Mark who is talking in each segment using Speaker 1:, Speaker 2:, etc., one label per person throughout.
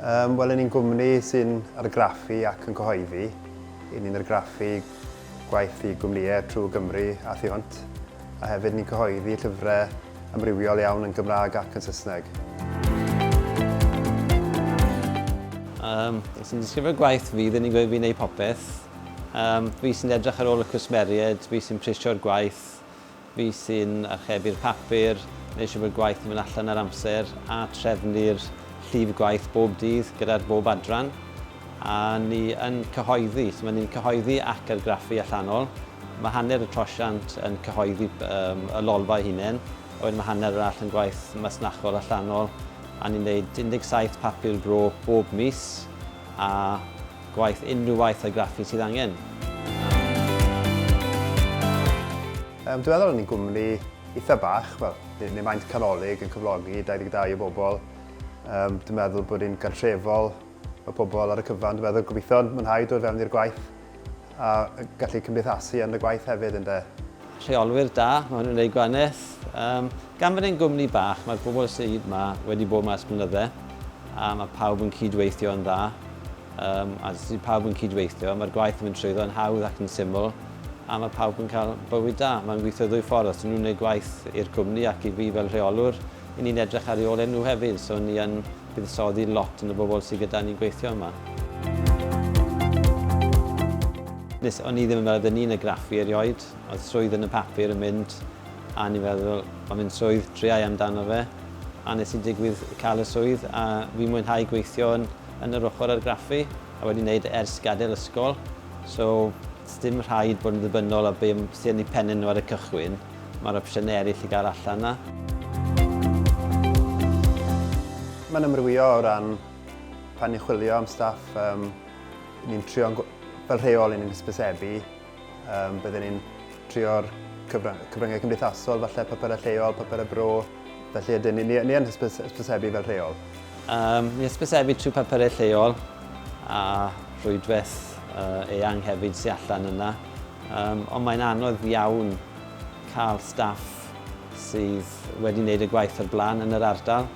Speaker 1: Um, Wel, yn ni'n gwmni sy'n argraffu ac yn cyhoeddi. Yn ni'n argraffu gwaith i gwmnïau trwy Gymru a thu hwnt. A hefyd ni'n cyhoeddi llyfrau amrywiol iawn yn Gymraeg ac yn Saesneg. Yym, os yn disgrifio gwaith fi, ddim yn gweud fi'n neud popeth. Yym, fi sy'n edrych ar ôl y cwsmeriaid, fi sy'n prisio'r gwaith, fi sy'n archebu'r papur, neu siw bod gwaith yn mynd allan ar amser a trefnu'r llif gwaith bob dydd gyda'r bob adran. A ni yn cyhoeddi, so mae ni'n cyhoeddi ac argraffu allanol. Mae hanner y trosiant yn cyhoeddi um, y lolfa hunain, a wedyn mae hanner arall yn gwaith masnachol allanol, a ni'n gwneud 17 papur bro bob mis, a gwaith unrhyw waith argraffu sydd angen. Um, dwi'n meddwl ni'n gwmni eitha bach, wel, neu maent canolig yn cyflogi 22 o bobl. Um, dwi'n meddwl bod ni'n gartrefol Mae pobl ar y cyfan, dwi'n meddwl, gobeithio yn mwynhau dod fewn i'r gwaith a gallu cymdeithasu yn y gwaith hefyd, ynde? Rheolwyr da, mae hwn yn ei gwaneth. Um, gan fod e'n gwmni bach, mae'r bobl sydd yma wedi bod yma ers blynydde, a mae pawb yn cydweithio yn dda. Um, a sydd pawb yn cydweithio, mae'r gwaith yn mynd trwyddo yn hawdd ac yn syml, a mae pawb yn cael bywyd da. Mae'n gweithio ddwy ffordd, os nhw'n gwneud gwaith i'r cwmni ac i fi fel rheolwr, Y'n ni'n edrych ar reolau nhw hefyd, so ni yn buddsoddi lot yn y bobl sydd gyda ni'n gweithio yma. Nes o'n i ddim yn meddwl oedden ni'n y graffu erioed, oedd swydd yn y papur yn mynd, a o'n i'n meddwl, mae'n mynd swydd, triau amdano fe, a nes i digwydd cael y swydd, a fi'n mwynhau gweithio yn, yn yr ochr argraffu, a wedi wneud e ers gadael ysgol, so sdim rhaid bod yn ddibynnol ar be sy'n eu pennau nhw ar y cychwyn. Mae'r opsiynau eraill i gael allan 'na. Mae'n amrywio o ran pan ni'n chwilio am staff, um, ni'n trio, fel rheol, ni'n hysbysebu, um, byddwn ni'n trio'r cyfryngau cymdeithasol, falle papurau lleol, papurau bro, Felly ydyn, ni, ni, ni yn hysbys, hysbysebu fel rheol. Um, ni hysbysebu trwy papurau lleol a rhwydwaith uh, eang hefyd sy'n allan yna. Um, ond mae'n anodd iawn cael staff sydd wedi wneud y gwaith o'r blaen yn yr ardal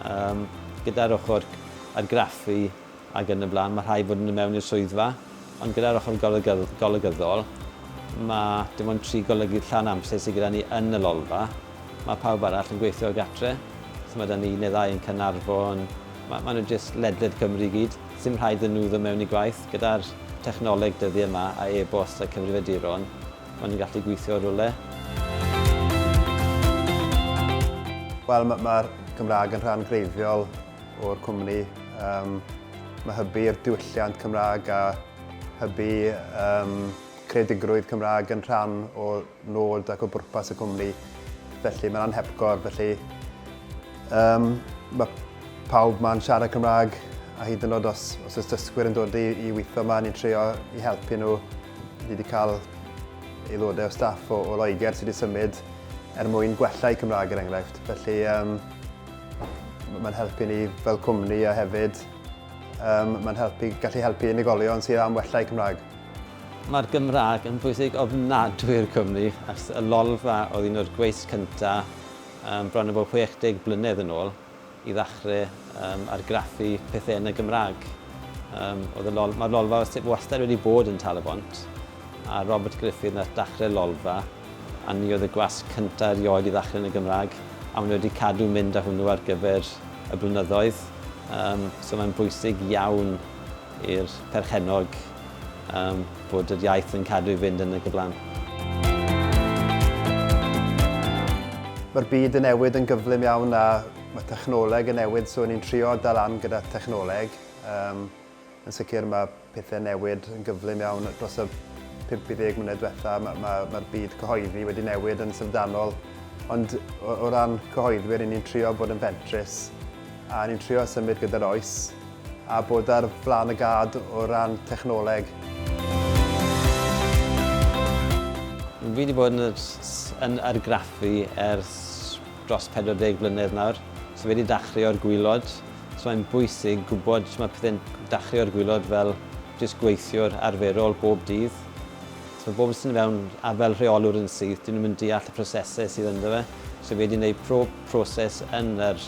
Speaker 1: um, gyda'r ochr argraffu ac yn y blaen, mae rhaid bod nhw mewn i'r swyddfa, ond gyda'r ochr golygyddol, mae dim ond tri golygydd llawn amser sydd gyda ni yn y lolfa, mae pawb arall yn gweithio o gatre, so mae da ni un neu ddau yn Caernarfon, mae, mae nhw jyst ledled Cymru i gyd, ddim rhaid iddyn nhw ddod mewn i gwaith, gyda'r technoleg dyddiau yma a e-bost a cyfrifiaduron, mae nhw'n gallu gweithio o rywle. Wel, mae'r Gymraeg yn rhan greiddiol o'r cwmni um, mae hybu i'r diwylliant Cymraeg a hybu um, creadigrwydd Cymraeg yn rhan o nod ac o bwrpas y cwmni. Felly mae'n anhepgor, felly um, mae pawb mae'n siarad Cymraeg a hyd yn oed os, os ys dysgwyr yn dod i, i weithio yma, ni'n trio i helpu nhw. Ni wedi cael aelodau o staff o, o Loegr sydd wedi symud er mwyn gwella i Cymraeg er enghraifft. Felly um, Mae'n helpu ni fel cwmni a hefyd um, mae'n helpu, gallu helpu unigolion sydd am wella eu Cymraeg. Mae'r Gymraeg yn bwysig ofnadwy i'r Cymru, ac y lolfa oedd un o'r gweiths cyntaf um, bron o bod 60 blynedd yn ôl i ddechrau um, argraffu pethau yn y Gymraeg. Um, lol, Mae'r lolfa wastad wedi bod yn Tal-y-bont, a Robert Griffith nath dachrau lolfa A ni oedd y gwasg cyntaf erioed i ddechrau yn y Gymraeg, a maen nhw wedi cadw mynd â hwnnw ar gyfer y blynyddoedd. Yym, so mae'n bwysig iawn i'r perchennog yym, bod yr iaith yn cadw i fynd yn y gyflan. Mae'r byd yn newid yn gyflym iawn a mae technoleg yn newid, so ni'n trio dal lan gyda thechnoleg. Yym. Yn sicr mae pethau'n newid yn gyflym iawn dros y 5 i 10 mlynedd diwetha'. Mae'r ma, ma byd cyhoeddi wedi newid yn syfrdanol. Ond o, o ran cyhoeddwyr, ni'n trio bod yn fentrus a ni'n trio symud gyda'r oes a bod ar flan y gad o ran technoleg. Fi wedi bod yn, yn argraffu ers dros 40 mlynedd nawr. So fi wedi dachrau o'r gwylod So mae'n bwysig gwybod shwt mae pethau'n dachu o'r gwilod fel jyst gweithiwr arferol bob dydd. So mae bobl sy'n dod fewn a fel rheolwr yn syth, dyn nhw'm yn deall y prosesau sydd ynddo fe. So fi wedi gwneud pob proses yn yr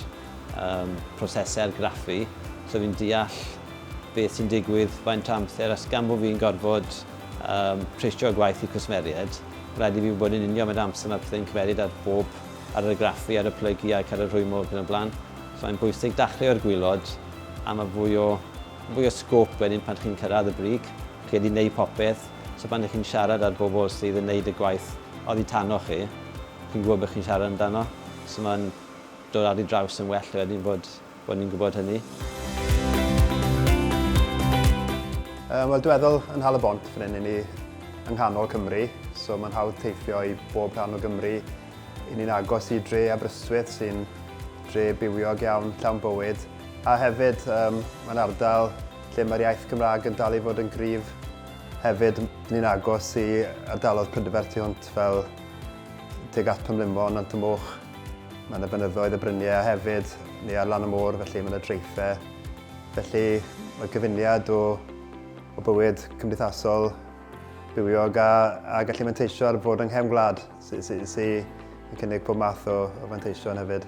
Speaker 1: yym prosesau argraffu, so fi'n deall beth sy'n digwydd, faint o amser, a gan bod fi'n gorfod yym prisio'r gwaith i cwsmeriaid, mae'n rhaid i fi wybod yn union faint o amser mae pethau'n cymeryd ar bob, ar yr argraffu, ar y plygu ac ar y rhwymo ac yn y blaen. Mae'n bwysig dachlio i'r gwaelod a mae fwy o fwy o sgôp wedyn pan chi'n cyrraedd y brig. Chi wedi wneud popeth, so pan chi'n siarad â'r bobl sydd yn wneud y gwaith oddi tano chi, chi'n gwybod beth chi'n siarad amdano, so mae'n dod ar ei draws yn well wedyn bod bod ni'n gwybod hynny. Yym wel dwi feddwl yn Nhal y Bont fan hyn 'yn ni yng nghanol Cymru, so mae'n hawdd teithio i bob rhan o Gymru. I ni'n agos i dre Aberystwyth sy'n dre bywiog iawn, llawn bywyd, a hefyd um, mae'n ardal lle mae'r iaith Gymraeg yn dal i fod yn gryf. Hefyd, ni'n agos i ardalodd Prydferth tu hwnt fel teg at Pymlimo, Nant y Moch. Mae yna fynyddoedd y bryniau a hefyd ni ar lan y môr, felly mae yna dreiffau. Felly mae gyfuniad o, o bywyd cymdeithasol bywiog a, a gallu manteisio ar fod yng nghefn gwlad Sy'n sy, yn cynnig pob math o, o fanteision hefyd.